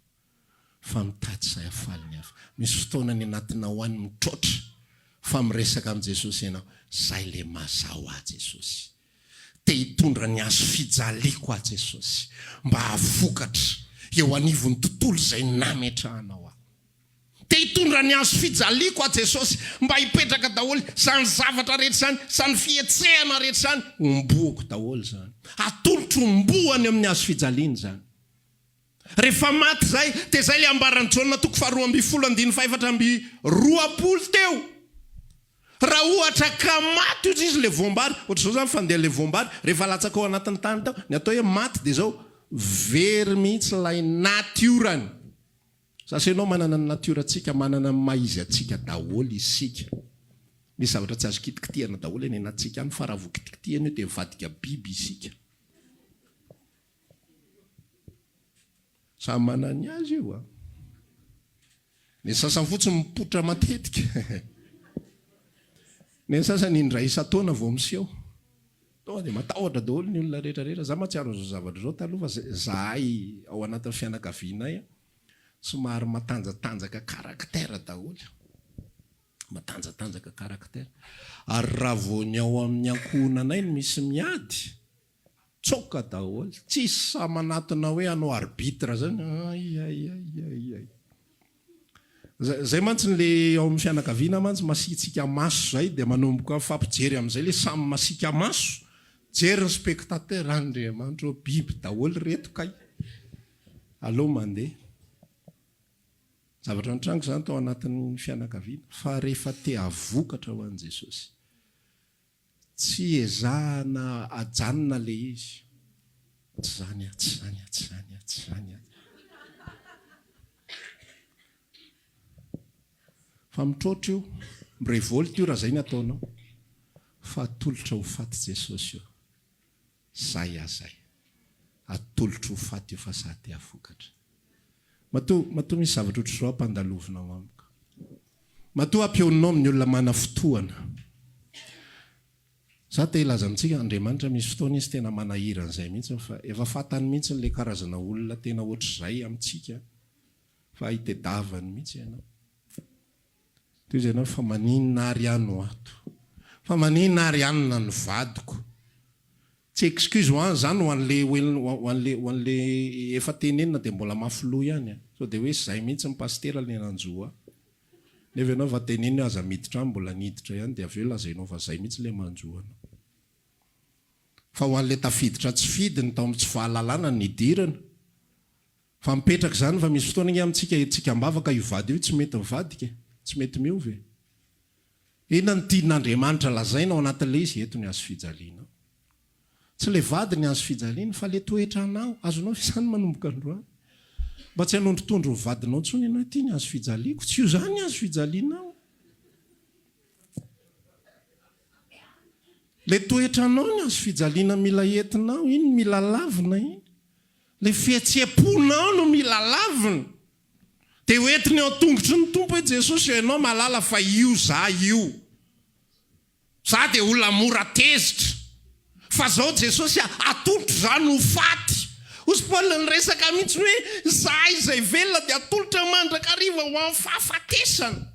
fa mitady izay hahafaly ny hafa. Misy fotoana ny anatinao any mitroatra fa miresaka amin'i Jesosy ianao, Izay le mazà ho ahy Jesosy. Te hitondra ny hazo fijaliako aho Jesosy, mba hahavokatra eo anivon'ny tontolo izay nametrahanao aho. Te hitondra ny hazo fijaliako aho Jesosy, mba hipetraka daholo izany zavatra rehetra izany, izany fihetsehana rehetra izany, homboako daholo izany. Atolotro homboany amin'ny hazo fijaliany izany. Rehefa maty izay, dia izay ilay ambaran'i Jaona toko faharoa ambin'ny folo andininy fahefatra amby roapolo teo. Raha ohatra ka maty ohatra izy ilay voam-bary, ohatr'izao izany fandeha ilay voam-bary, rehefa latsaka ao anatin'ny tany tao, ny atao hoe maty dia izao, very mihitsy ilay natiorany. Za sy ianao manana ny natiorantsika, manana ny maha izy antsika daholo isika. Misy zavatra tsy azo kitikitihana daholo any anatintsika any, fa raha vao kitikitihina io dia mivadika biby isika. Samy manana ny azy io a. Ny sasany fotsiny mipoitra matetika. Ny sasany indray isan-taona vao miseho. Tonga dia matahotra daholo ny olona rehetra rehetra. Za mahatsiaro an'izao zavatra izao taloha fa za- zahay ao anatin'ny fianakavianay a, somary matanjatanjaka caractère daholo. Matanjatanjaka caractère. Ary raha vao ny ao amin'ny ankohonanay no misy miady, Tsoaka daholo. Tsisy sahy manatona hoe hanao arbitre zany. Aiaiaiaiai. Zay zay mantsy ny le ao amin'ny fianakaviana mantsy masiatsiaka maso zay dia manomboka mifampijery amin'izay le samy masiaka maso. Jery ny spectateur, Andriamanitra ô biby daholo reto kay. Aleo mandeha. Zavatra nitranga izany tao anatin'ny fianakaviana fa rehefa te-havokatra ho an'i Jesosy Tsy ezahana ajanona le izy. Tsy zany a, tsy zany a, tsy zany a, tsy zany a. Fa mitroatra io, mirevolte io raha zay ny ataonao. Fa atolotra ho faty Jesosy io. Zay ah zay. Atolotro ho faty io fa sahy te hafokatra. Matoa, matoa misy zavatra ohatr'izao ampandalovinao amiko. Matoa ampioninao amin'ny olona manafotoana. Za te hilaza amintsika, Andriamanitra misy fotoana Izy tena manahira an'izay mihitsy fa efa fantany mihitsy ilay karazana olona tena ohatr'izay amintsika fa ahitedavany mihitsy ianao. Toy izay ianao fa maninona ary aho no ato? Fa maninona ary any na ny vadiko? Tsy excuse ho an zany ho anle ho anle ho anle efa tenenina dia mbola mafy loha ihany a! Sao dia hoe zay mihitsy ny pasitera le nanjo ahy? Nefa ianao efa tenenina hoe aza miditra any mbola niditra ihany dia avy eo lazainao fa zay mihitsy le manjo anao. Fa ho anle tafiditra tsy fidiny tao amin'ny tsy fahalalana ny nidirana, Fa mipetraka izany fa misy fotoana nge amintsika hetsika ambavaka io vady io tsy mety mivadika e, tsy mety miova e. Inona no tian'Andriamanitra lazaina ao anatin'ilay izy eto ny hazo fijaliana ao. Tsy ilay vady ny hazo fijaliana fa ilay toetra anao, azonao ve izany manomboka androany? Mba tsy hanondrotondro ny vadinao intsony ianao, ity ny hazo fijaliako, tsy io izany ny hazo fijalianao. Ilay toetra anao ny hazo fijaliana mila entinao, iny mila lavina iny. Ilay fihetseham-ponao no mila lavina. Dia hoentiny eo an-tongotry ny Tompo hoe, Jesosy ô, Ianao mahalala fa io za io. Za dia olona mora tezitra. Fa zao Jesosy a, atolotro zany ho faty. Hozy Paoly niresaka mihitsiny hoe, Izahay izay velona dia atolotra mandrakariva ho amin'ny fahafatesana.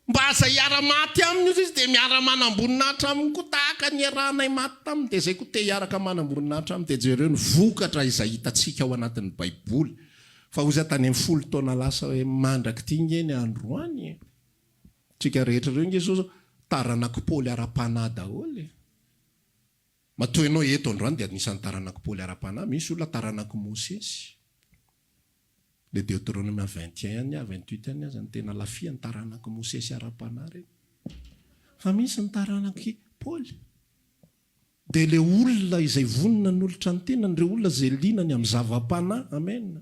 Mba aza hiara-maty aminy ozy izy dia miara-manam-boninahitra aminy koa tahaka ny iarahanay maty taminy dia izay koa te hiaraka manam-boninahitra aminy dia jereo ny vokatra izay hitantsika ao anatin'ny baiboly fa ozy aho tany amin'ny folo taona lasa hoe mandrak'ity nge ny andro any e! Tsika rehetra ireo nge zao taranak'i paoly ara-panahy daholo e! Matoa ianao eto androany dia anisan'ny taranak'i paoly ara-panahy, misy olona taranak'i mosesy. Le Deoteronomia vingt et un any, vingt huit any aza no tena lafia, ny taranak'i Mosesy ara-panahy reny. Fa misy ny taranak'i Paoly. Dia le olona izay vonona hanolotra ny tenany, ireo olona izay liana ny amin'ny zava-panahy. Amena.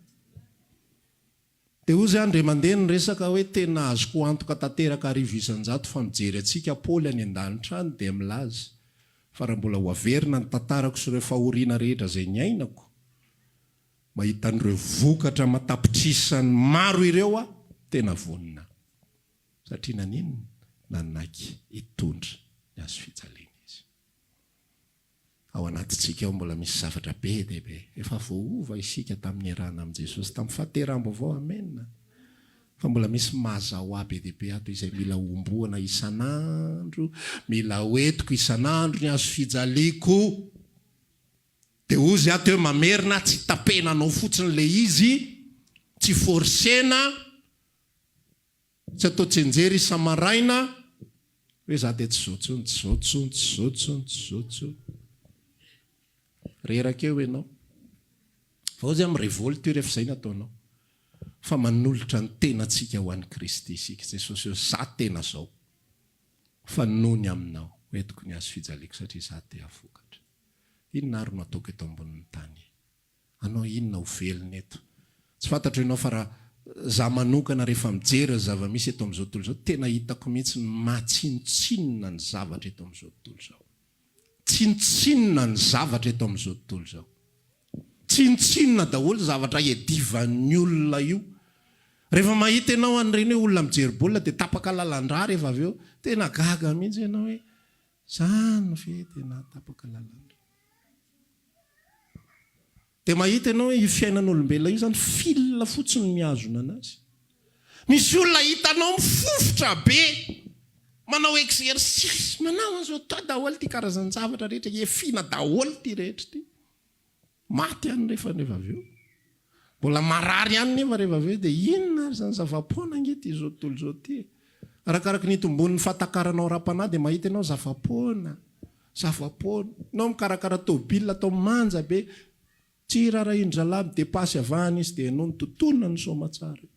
Dia hoy zay andry mandeha ny resaka hoe tena azoko antoka tanteraka arivo isan-jato fa mijery antsika Paoly any an-danitra any dia milaza fa raha mbola ho averina ny tantarako sy ireo fahoriana rehetra izay niainako, Mahita an'ireo vokatra aman-tapitrisany maro ireo aho, tena vonona aho. Satria naninona? Nanaiky hitondra ny hazo fijaliana izy. Ao anatintsika ao mbola misy zavatra be dia be. Efa voaova isika tamin'ny niarahana amin'i Jesosy tamin'ny fahateraham-baovao. Amena. Fa mbola misy mazahoà be dia be ato izay mila homboana isan'andro, mila hoentiko isan'andro ny hazo fijaliako. Dia hozy aho teo mamerina aho tsy tapena anao fotsiny ilay izy, tsy forcena, tsy atao tsenjery isa-maraina hoe za dia tsy zao tsony, tsy zao tsony, tsy zao tsony, tsy zao tsony. Reraka eo enao. Fa hozy aho mi-revolte io rehefa zay ny ataonao. Fa manolotra ny tenantsika ho an'i Kristy isika, Jesosy hoe za tena zao, fa noho ny aminao hoentiko ny hazofijaliako satria za te-hahafokatra. Inona ary no ataoko eto ambonin'ny tany? Hanao inona ho velona eto? Tsy fantatro ianao fa raha za manokana rehefa mijery ny zava-misy eto amin'izao tontolo izao, tena hitako mihitsy ny maha tsinontsinona ny zavatra eto amin'izao tontolo izao. Tsinontsinona ny zavatra eto amin'izao tontolo izao. Tsinontsinona daholo zavatra hiadivan'ny olona io. Rehefa mahita ianao an'ireny hoe olona mijery baolina dia tapaka lalandrà rehefa avy eo, tena gaga mihitsy ianao hoe Zany ve tena tapaka lalana? Dia mahita ianao hoe io fiainan'olombelona io zany fil fotsiny no mihazona anazy. Misy olona hitanao mifofotra be, manao exercice, manao an'izao, atao daholo ity karazan-javatra rehetra, hiafiana daholo ity rehetra ity. Maty ihany nefa rehefa avy eo. Mbola marary ihany nefa rehefa avy eo dia inona ary izany zava-poana ange ity izao tontolo izao ity e. Arakaraka ny itombon'ny fahatakaranao ara-panahy dia mahita ianao zava-poana, zava-poana. Ianao mikarakara tôbila atao manja be, tsy hiraharahian'ny zalahy midepasy avy any izy dia ianao mitontona ny soamatsara eo.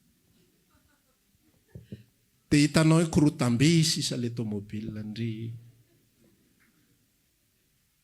Dia hitanao hoe korotam-be sisa ilay tômôbila ndry.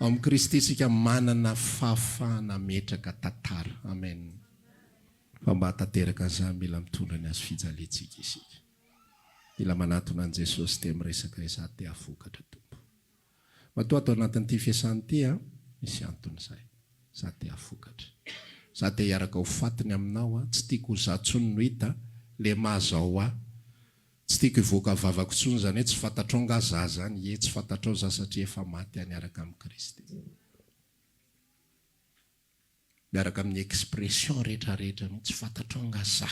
Ao amin'i Kristy isika manana fahafahana hametraka tantara. Amen. Fa mba hahatanteraka an'izany mila mitondra ny hazo fijaliantsika isika. Mila manatona an'i Jesosy dia miresaka izaho te hahafokatra Tompo. Matoa ato anatin'ity fiasana ity aho, misy antony izay. Izaho te hahafokatra. Izaho te hiaraka ho faty ny aminao aho. Tsy tiako ho izaho intsony no hita, lemà izao aho. Tsy tiako hivoaka vavako intsony izany hoe tsy fantatrao angaha za zany? Ie, tsy fantatrao za satria efa maty aho niaraka amin'i Kristy. Miaraka amin'ny expression rehetra rehetra mihitsy, tsy fantatrao angaha za?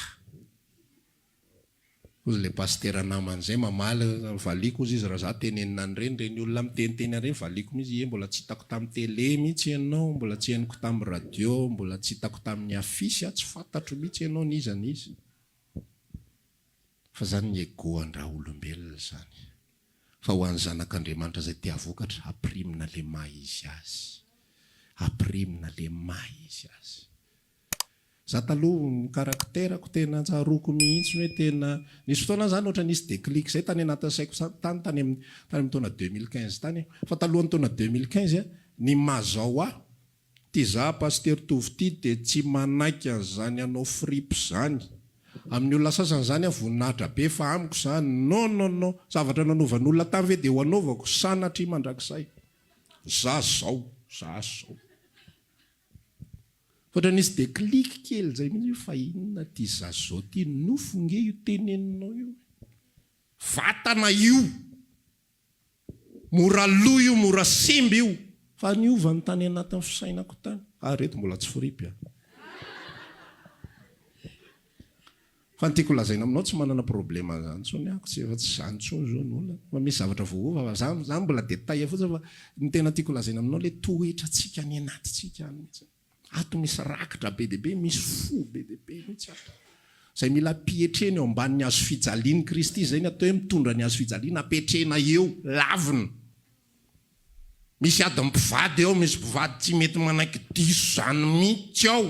Hozy ilay pasitera namany izay mamaly, valiako hozy izy raha za tenenina an'ireny, ireny olona miteniteny an'ireny valiako mihitsy, ie mbola tsy hitako tamin'ny télé mihitsy ianao, mbola tsy henoko tamin'ny radio, mbola tsy hitako tamin'ny affiche aho, tsy fantatro mihitsy ianao n'iza n'iza. Fa zany ny ego andraha olombelona zany. Fa ho an'ny zanak'Andriamanitra zay te havokatra, apirimina le maha izy azy. Apirimina le maha izy azy. Za taloha ny caractère-ko tena tsaroako mihitsy hoe tena, nisy fotoana zany ohatra nisy déclic zay tany anatin'ny saiko tany tany amin'ny taona deux mille quinze tany, fa talohan'ny taona deux mille quinze, ny maha zao ahy Ty za Pasitera Tovo ty dia tsy manaiky an'izany hanao fripe zany. Amin'ny olona sasany zany aho voninahitra be fa amiko za non non non. Zavatra nanovan'olona tany ve dia ho anaovako sanatria mandrakizay. Za zao, za zao. F'ohatra nisy déclic kely zay mihitsy hoe fa inona ty za zao ty. Nofo nge io teneninao io e. Vatana io. Mora lo io mora simba io. Fa niova ny tany anatin'ny fisainako tany. Fa ireto mbola tsy fripy an. Fa ny tiako lazaina aminao tsy manana problema an'izany intsony aho, tsy efa tsy izany intsony izao ny olana, fa misy zavatra voaova fa izany izany mbola détail fotsiny fa ny tena tiako lazaina aminao ilay toetrantsika any anatintsika any mihitsy. Ato misy rakitra be dia be, misy fo be dia be mihitsy ato. Izay mila ampihetrena eo ambanin'ny hazo fijalian'i Kristy, izay ny atao hoe mitondra ny hazo fijaliana, ampihetrena eo, lavina. Misy adin'ny mpivady ao, misy mpivady tsy mety manaiky diso izany mihitsy ao.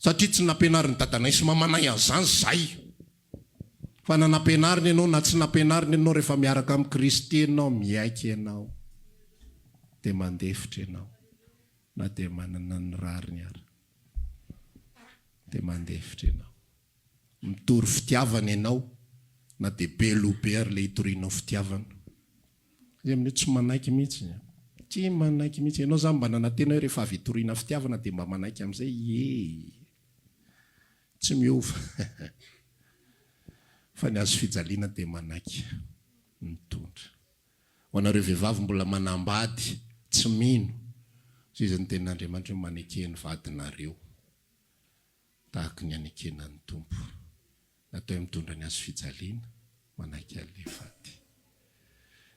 Satria tsy nampianarin'i dadanay sy mamanay an'izany izahay. Fa na nampianarina ianao na tsy nampianarina ianao, rehefa miaraka amin'i Kristy ianao, miaiky ianao, dia mandefitra ianao, na dia manana ny rariny ary. Dia mandefitra ianao. Mitory fitiavana ianao, na dia be loha be ary ilay itorianao fitiavana. Ny amin'io tsy manaiky mihitsy e. Tsy manaiky mihitsy. Ianao izany mba nanantena hoe rehefa avy hitoriana fitiavana dia mba manaiky amin'izay. Ie. Tsy miova. Fa ny hazo fijaliana dia manaiky. Mitondra. Ho anareo vehivavy mbola manambady, tsy mino izay izy ny tenin'Andriamanitra hoe maneke ny vadinareo. tahaka ny hanekena ny Tompo. Natao hitondra ny hazofijaliana, manaiky an'ilay faty.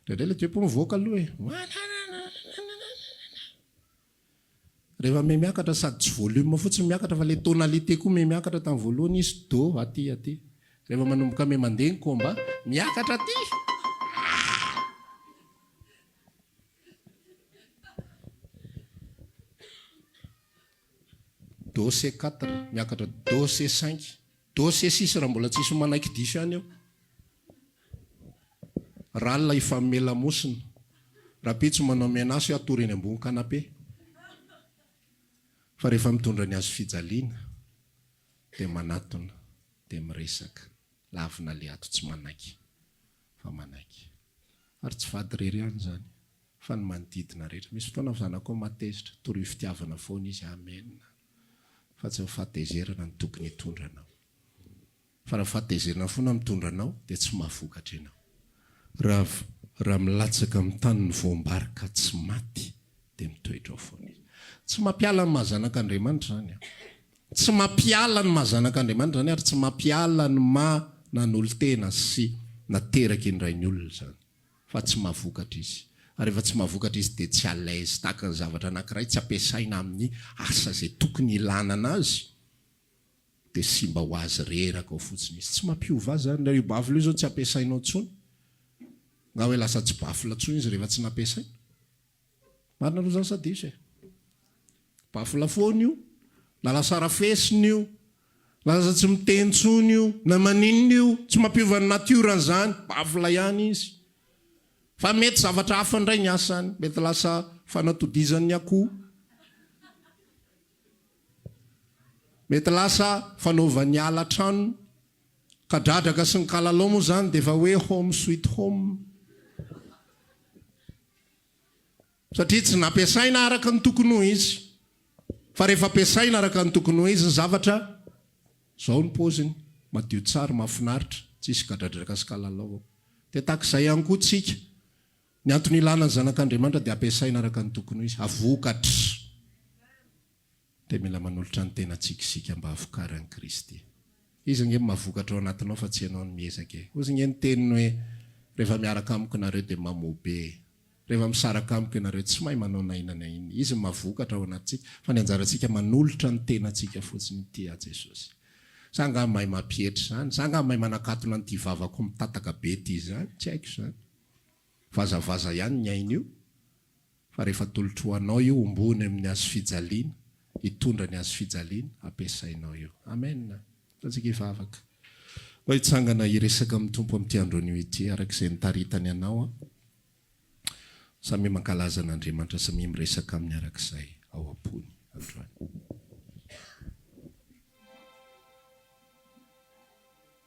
Indraindray ilay diapo mivoaka aloha e! Rehefa miha miakatra sady tsy volume fotsiny miakatra fa ilay tonalité koa miha miakatra tamin'ny voalohany izy do aty aty. Rehefa manomboka miha mandeha ny combat, miakatra aty! Do se quatre miakatra do se cinq do se six raha mbola tsy hisy manaiky diso ihany eo. R'alina hifamehy lamosina. Rapitso manao menace hoe hatory eny ambony canapé. Fa rehefa mitondra ny hazo fijaliana dia manatona dia miresaka. Lavina le ato tsy manaiky. fa manaiky. Ary tsy vady irery ihany izany, fa ny manodidina rehetra. Misy fotoana ny zanakao mahatezitra, torio fitiavana foana izy, amena, fa tsy ny fahatezerana no tokony hitondra anao. Fa raha ny fahatezerana foana no mitondra anao, dia tsy mahavokatra ianao. Raha, raha milatsaka amin'ny tany ny voam-bary ka tsy maty, dia mitoetra ao foana izy. Tsy mampiala ny maha-zanak'Andriamanitra izany an! Tsy mampiala ny maha zanak'Andriamanitra izany ary tsy mampiala ny maha nanolo-tena sy nateraky indray ny olona izany. Fa tsy mahavokatra izy. Ary rehefa tsy mahavokatra izy dia tsy à l'aise tahaka ny zavatra anankiray tsy ampiasaina amin'ny asa izay tokony hilanana azy dia simba ho azy reraka ao fotsiny izy. Tsy mampiova azy izany. Raha io baffle io izao tsy ampiasainao intsony, nga hoe lasa tsy baffle intsony izy rehefa tsy nampiasaina? Marina aloha zany sa diso e? Bafola foana io, na lasa rafesina io, na lasa tsy miteny intsony io, na maninona io, tsy mampiova ny natiorany zany, bafola ihany izy. Fa mety zavatra hafa indray ny asany, mety lasa fanatodizan'ny akoho, mety lasa fanaovan'ny ala tranony, ka dradraka sy ny kalalao moa zany dia efa hoe home sweet home. satria tsy nampiasaina araka ny tokony ho izy, fa rehefa ampiasaina araka ny tokony ho izy ny zavatra, izao ny paoziny, madio tsara, mahafinaritra, tsy hisy gadradraka sy kalalao ao. Dia tahaka izay ihany koa tsika, ny antony ilana ny Zanak'Andriamanitra dia ampiasaina araka ny tokony ho izy, ha vokatra. Dia mila manolotra ny tenantsika isika mba hahafokaran'i Kristy. Izy ange no mahavokatra ao anatinao fa tsy ianao no miezaka e. Hozy ange ny teniny hoe, Rehefa miaraka amiko nareo dia mamoa be e. Rehefa misaraka amiko ianareo tsy mahay manao na inona na inona. Izy no mahavokatra ao anatintsika fa ny anjarantsika manolotra ny tenantsika fotsiny inty aho Jesosy. Za angaha mahay mampietry izany? Za angaha mahay manakatona an'ity vavako mitataka be ity izany? Tsy haiko izany. Vazavaza ihany ny ainy io. Fa rehefa atolotro ho anao io omboany amin'ny hazo fijaliana, hitondra ny hazo fijaliana ampiasainao io. Amen. Ataontsika hivavaka. Anao hitsangana hiresaka amin'ny Tompo amin'ity andro anio ity, araka izay nitaritany anao aho. Samia mankalaza an'Andriamanitra, samia miresaka Aminy araka izay ao am-pony androany.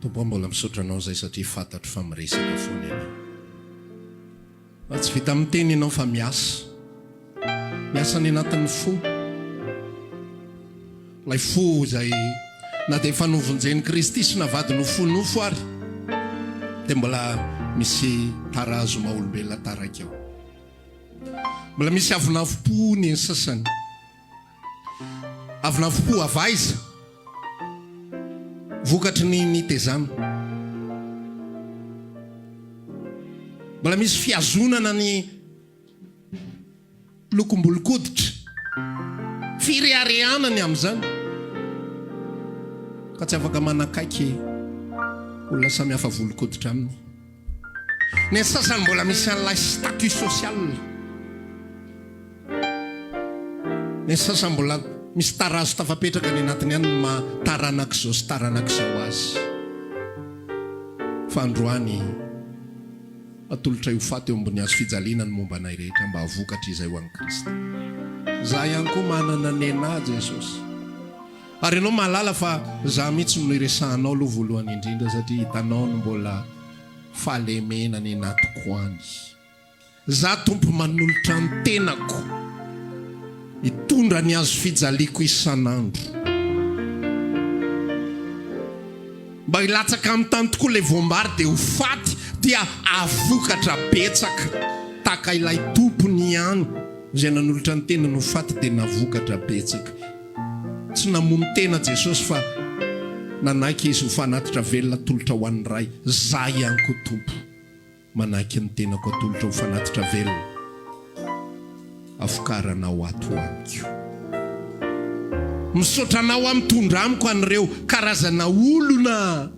Tompo aho mbola misaotra anao izay satria fantatro fa miresaka foana ianao fa tsy vita miteny ianao fa miasa miasa any anatin'ny fo ilay fo izay na dia efa novonjen'i Kristy sy navadiny ho fo nofo ary dia mbola misy tarazo maha olombelona taraiky ao Mbola misy avonavompo ny an'ny sasany. Avonavompo avy aiza? Vokatry ny nitezana. Mbola misy fihazonana ny lokom-bolon-koditra. Fireharehana ny amin'izany. Ka tsy afaka manakaiky olona samihafa volon-koditra aminy. Ny sasany mbola misy an'ilay statut social. Ny sasany mbola misy tarazo tafapetraka any anatiny any ny maha taranak'izao sy taranak'izao azy. Fa androany, atolotray ho faty eo ambony hazo fijaliana ny momba anay rehetra mba vokatry izay ho an'i Kristy. Izaho ihany koa manana nenà Jesosy. Ary ianao mahalala fa za mihitsy no iresahanao aloha voalohany indrindra satria hitanao no mbola fahalemena any anatiko any. Za Tompo manolotra ny tenako hitondra ny hazo fijaliako isan'andro. Mba hilatsaka amin'ny tany tokoa ilay voam-bary dia ho faty dia hahavokatra betsaka tahaka ilay tompony ihany izay nanolotra ny tenany ho faty dia nahavokatra betsaka. Tsy namono tena Jesosy fa nanaiky Izy ho fanatitra velona atolotra ho an'ny Ray. Zah ihany koa Tompo, manaiky ny tenako atolotra ho fanatitra velona avokaranao ato ho amiko. Misaotra Anao aho mitondra amiko an'ireo karazana olona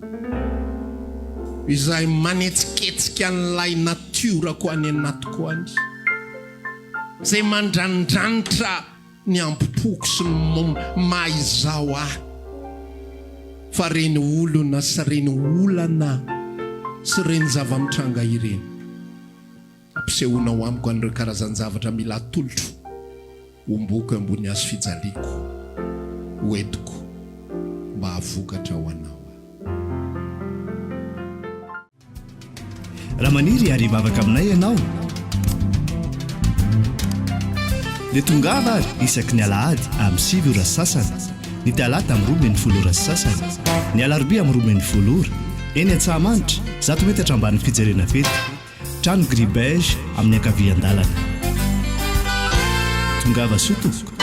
izay manetsiketsika an'ilay natiorako any anatiko any, izay mandranidranitra, ny ambom-poko sy ny maha izaho ahy fa ireny olona sy ireny olana sy ireny zava-mitranga ireny. Ampisehoanao amiko an'ireo karazan-javatra mila atolotro homboiko eo ambony hazo fijaliako ho entiko mba havokatra ho anao aho. Raha maniry hiary hivavaka aminay ianao, dia tongava ary isaky ny alahady amin'ny sivy ora sy sasany, ny talata amin'ny roa ambin'ny folo ora sy sasany, ny alarobia amin'ny roa ambin'ny folo ora, eny Antsahamanitra, zato metatra ambanin'ny fijerena fety, trano gris beige amin'ny ankavian-dalana. Tongava soa tompoko.